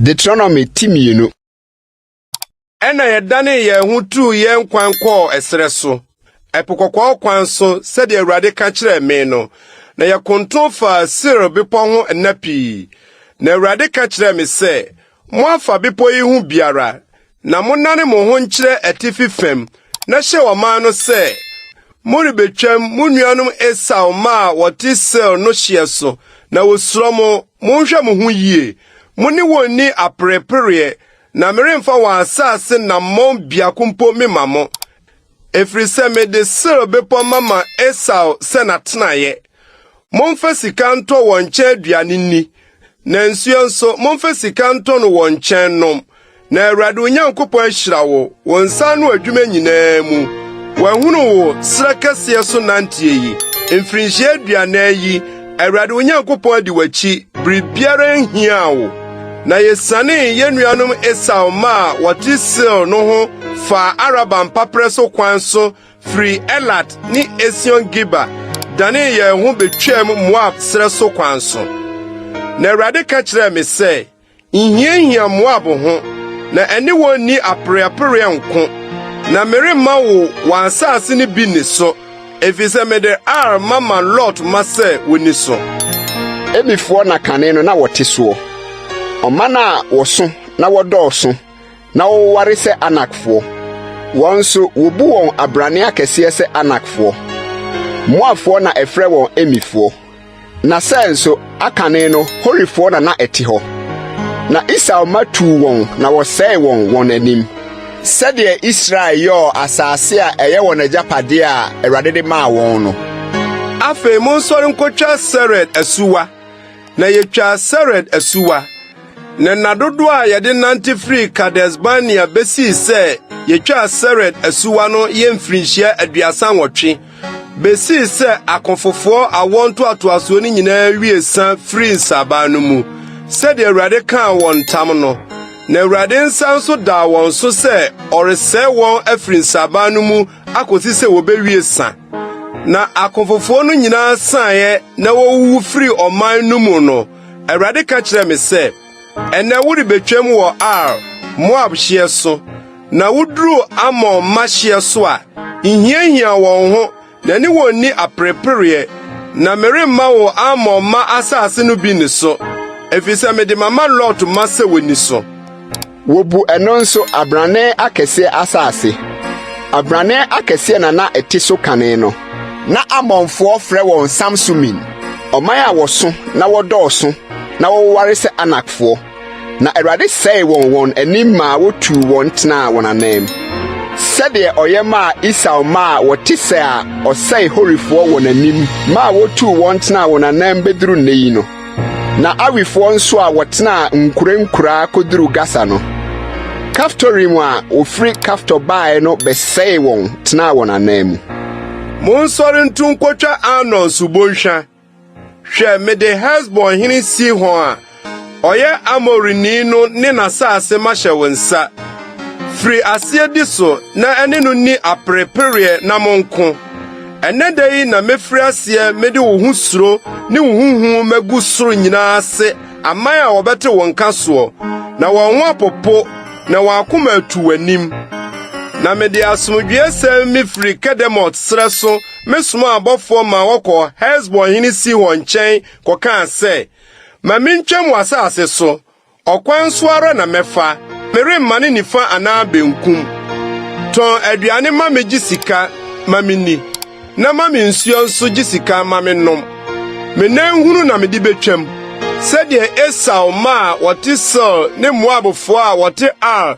Deuteronomy ti mmienu. Ɛna yɛdanee yɛn ho tuu yɛn kwan kɔɔ ɛserɛ so, ɛpo kɔkɔɔ kwan so sɛdeɛ Awurade ka kyerɛɛ me no, na yɛkonto faa Seir bepɔ ho nna pii. Na Awurade ka kyerɛɛ me sɛ, Moafa bepɔ yi ho biara, Na monnane mo ho nkyerɛ atifi fam na hyɛ ɔman no sɛ morebɛtwam mo nuanom Esau mma a wɔte Seir no hyeɛ so, na wɔsuro mo. Monhwɛ mo ho yie. Mo ne wɔn nni aperepereɛ, na meremfa wɔn asase nammɔn biako mpo memma mo. Ɛfiri sɛ mede Seir bepɔ mama Esau sɛ n'atenaeɛ. Momfa sika ntɔ wɔn nkyɛn aduane nni, na nsuo nso, momfa sika ntɔ no wɔn nkyɛn nnom. Na Awurade wo Nyankopɔn ahyira wo wo nsa ano adwuma nyinaa mu. Wahunu wo serɛ kɛseɛ so nanteɛ yi, mfirinhyia aduanan yi, Awurade wo Nyankopɔn adi w'akyi, biribiara nhiaa wo. Na yesianee yɛn nuanom Esau mma a wɔte Seir no ho faa Araba mpaperɛ so kwan so firi Elat ne Esion-Geber danee yɛn ho betwaam Moab serɛ so kwan so. Na Awurade ka kyerɛɛ me sɛ, Nhiahia Moab ho, na ɛne wɔn nni apereapereɛ nko, na meremma wo wɔn asase no bi nni so, efisɛ mede Ar mama Lot mma sɛ wonni so. Ebifoɔ na kane no na wɔte soɔ, ɔman a wɔso na wɔdɔɔso na wɔwoware sɛ Anakfoɔ. Wɔn nso, wɔbu wɔn abrane akɛseɛ sɛ Anakfoɔ. Moabfoɔ na ɛfrɛ wɔn Emifoɔ. Na Seir nso, akane no, Horifoɔ na na ɛte hɔ. Na Esau mma tuu wɔn na wɔsɛee wɔn wɔn anim. Sɛdeɛ Israel yɔɔ asase a ɛyɛ wɔn agyapadeɛ a Awurade de maa wɔn no. Afei monsɔre nkɔtwa Sered asuwa. Na yetwaa Sered asuwa. Na nna dodoɔ a yɛde nante firii Kades-Barnea besii sɛ yetwaa Sered asuwa no yɛ mfirinhyia aduasa nwɔtwe. besii sɛ akofofoɔ awoɔ ntoatoasoɔ no nyinaa wie sa firii nsaban no mu sɛdeɛ Awurade kaa wɔn ntam no. Na Awurade nsa nso daa wɔn so sɛ ɔresɛe wɔn afiri nsaban no mu akosi sɛ wɔbɛwie sa. Na akofofoɔ no nyinaa saeɛ na wɔwuwu firii ɔman no mu no, Awurade ka kyerɛɛ me sɛ, Ɛnnɛ worebetwam wɔ Ar, Moab hyeɛ so, na woduru Amon mma hyeɛ so a, nhiahia wɔn ho, na ɛne wɔn nni aperepereɛ. Na meremma wo Amon mma asase no bi nniso, efisɛ mede mama Lot mma sɛ wɔnni so. Wobu ɛno nso abrane akɛseɛ asase. Abrane akɛseɛ na na ɛte so kane no. Na Amonfoɔ frɛ wɔn Samsumin, ɔman a wɔso na wɔdɔɔso. na wɔwoware sɛ Anakfoɔ, na Awurade sɛee wɔn wɔn anim maa wotuu wɔn tenaa wɔn ananm. Sɛdeɛ ɔyɛ maa Esau mma a wɔte sɛ a ɔsɛe Horifoɔ wɔn anim maa wotuu wɔn tenaa wɔn ananm bɛduru nnɛ yi no. Na Awifoɔ nso a wɔtenaa nkurankuraa kɔduru Gasa no, Kaftorim a wɔfiri Kaftor baeɛ no bɛsɛee wɔn tenaa wɔn ananmu. Monsɔre ntu nkɔtwa Arnon subɔnhwa. Hwɛ, mede Hesbon hene Sihon a ɔyɛ Amorini no ne n'asase mahyɛ wo nsa. Firi aseɛ di so na ɛne no nni aperepereɛ na monko. Ɛnnɛ da yi na mefiri aseɛ mede wo ho suro ne wo ho hu magu soro nyinaa ase aman a wɔbɛte wo nka soɔ, na wɔn ho apopo na wɔn akoma atu w'anim. Na mede asomdwoesɛm mefiri Kedemot serɛ so mesomaa abɔfoɔ ma wɔkɔɔ Hesbon hene Sihon nkyɛn kɔkaa sɛ, Ma mentwam w'asase so, ɔkwan so ara na mɛfa, meremma ne nifa anaa benkum. Tɔn aduane ma me gye sika ma menni, na ma me nsuo nso gye sika ma mennom. Me nan hunu na mede betwam, sɛdeɛ Esau mma a wɔte Seir ne Moabfoɔ a wɔte Ar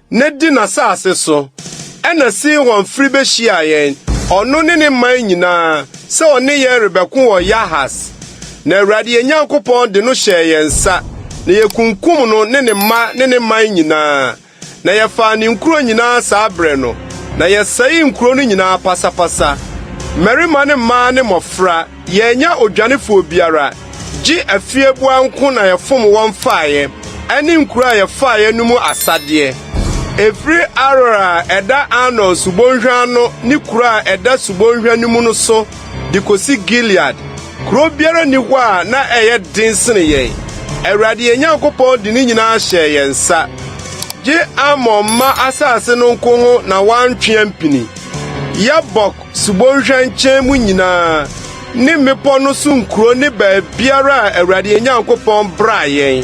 no di n'asase so. Ɛnna Sihon firi bɛhyiaa yɛn, ɔno ne ne man nyinaa, sɛ ɔne yɛn rebɛko wɔ Yahas. Na Awurade yɛn Nyankopɔn de no hyɛɛ yɛn nsa, na yɛkunkum no ne ne mma ne ne man nyinaa, na yɛfaa ne nkuro nyinaa saa berɛ no, na yɛsɛee nkuro no nyinaa pasapasa, mmarima ne mmaa ne mmɔfra. Yɛannya odwanefoɔ biara, gye afieboa nko na yɛfom wɔn faeɛ, ɛne nkuro a yɛfaeɛ no mu asadeɛ. Ɛfiri Aroer a ɛda Arnon subɔnhwa ano ne kuro a ɛda subɔnhwa no mu no so de kɔsi Gilead, kuro biara nni hɔ a na ɛyɛ den sene yɛn. Awurade yɛn Nyankopɔn de ne nyinaa hyɛɛ yɛn nsa, gye Amon mma asase no nko ho na wantwe ampini. Yabok. Subɔnhwa nkyɛn mu nyinaa ne mmepɔ no so nkuro ne baabiara a Awurade yɛn Nyankopɔn braa yɛn.